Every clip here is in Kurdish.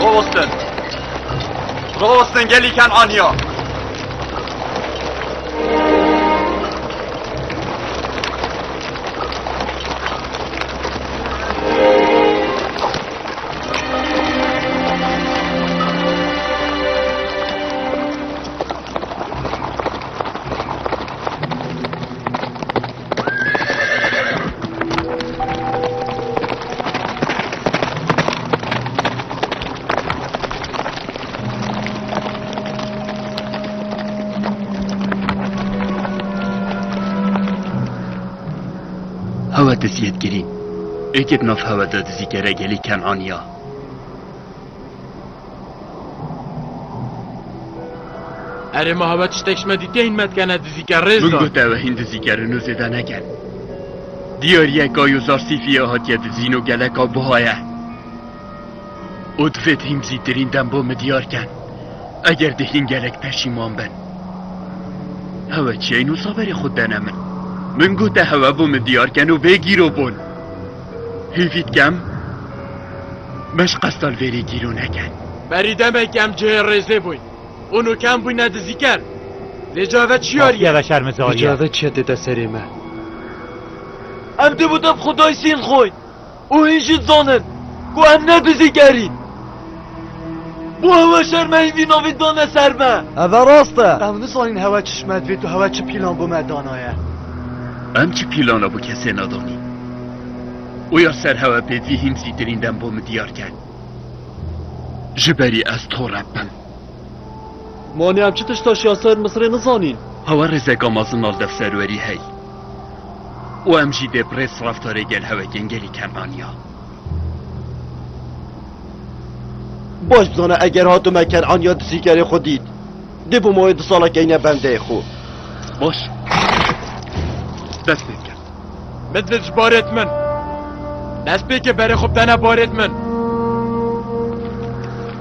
Rosten. Rosten geliken anya. Hewe diziyê digirîn. Êkê di nav hewe de dizî gere gelî Kenaniya. Erê ma hebe tiştek ji me dîtiye hîn me dikene dizîker rêz Min got ew hîn dizîker in û zêde neken. Diyariyeka Yozar Sîfiyê hatiye dizîn û geleka buha ye. Û divê di hîn bizîtirîn dem bo min diyar ken. Eger di hîn gelek peşîman bin. Hewe çiyên wisa berê xwe dene min. Min gote hewe bo min diyar ken û bê gîrobûn. Hêvî dikem beş qesta li vêrê gîlo neke. Berî demekî em cihê rêzê bûyn û nukem bûyne dizîker. Lê cave çiyar ye? Lê cave çi ye tê te serê me? Em dê bi te bi xwe dayîsîn xweyn û hîn jî dizanin ku em ne dizîker în. Bo hewa şermeyî vî navê dane serme? Eve rast e. Ew nizanîn hewa çi şmet vêt û hewa çi pîlan bo me danaye. Em çi pîlana bo kesê nedanîn. Oya ser hewa bê vî hîn zîtirîn dem bo min diyar ket. Ji berî ez tore bim. Manê em çi tiştaş ya ser Misirê nizanîn. Hewa rêzeka mezin a li dev serwerî hey. Û em jî dê bi rêz raftarê gel hewekên gelî kerdan ya. Baş dizane eger hatime Kenan ya dizîkerê xwe dît. Dê bû mawê du sala keyne bendeyê xwe. Baş. Dest pê bike. Midil ji barê min. Dest pê ke berê xwe bidene barê min.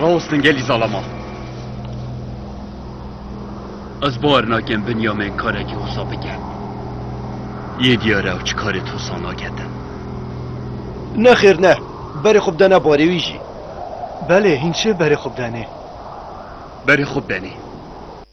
Rawestin gelî zalama. Ez bar nakim Binyamin karekî wisa bike. Yê diyar e ew çi karê tu wisa naketin. Nexêr ne. Berê xwe bidene barê wî jî. Belê hîn çê berê xwe bidenê. Berê xwe bidenê.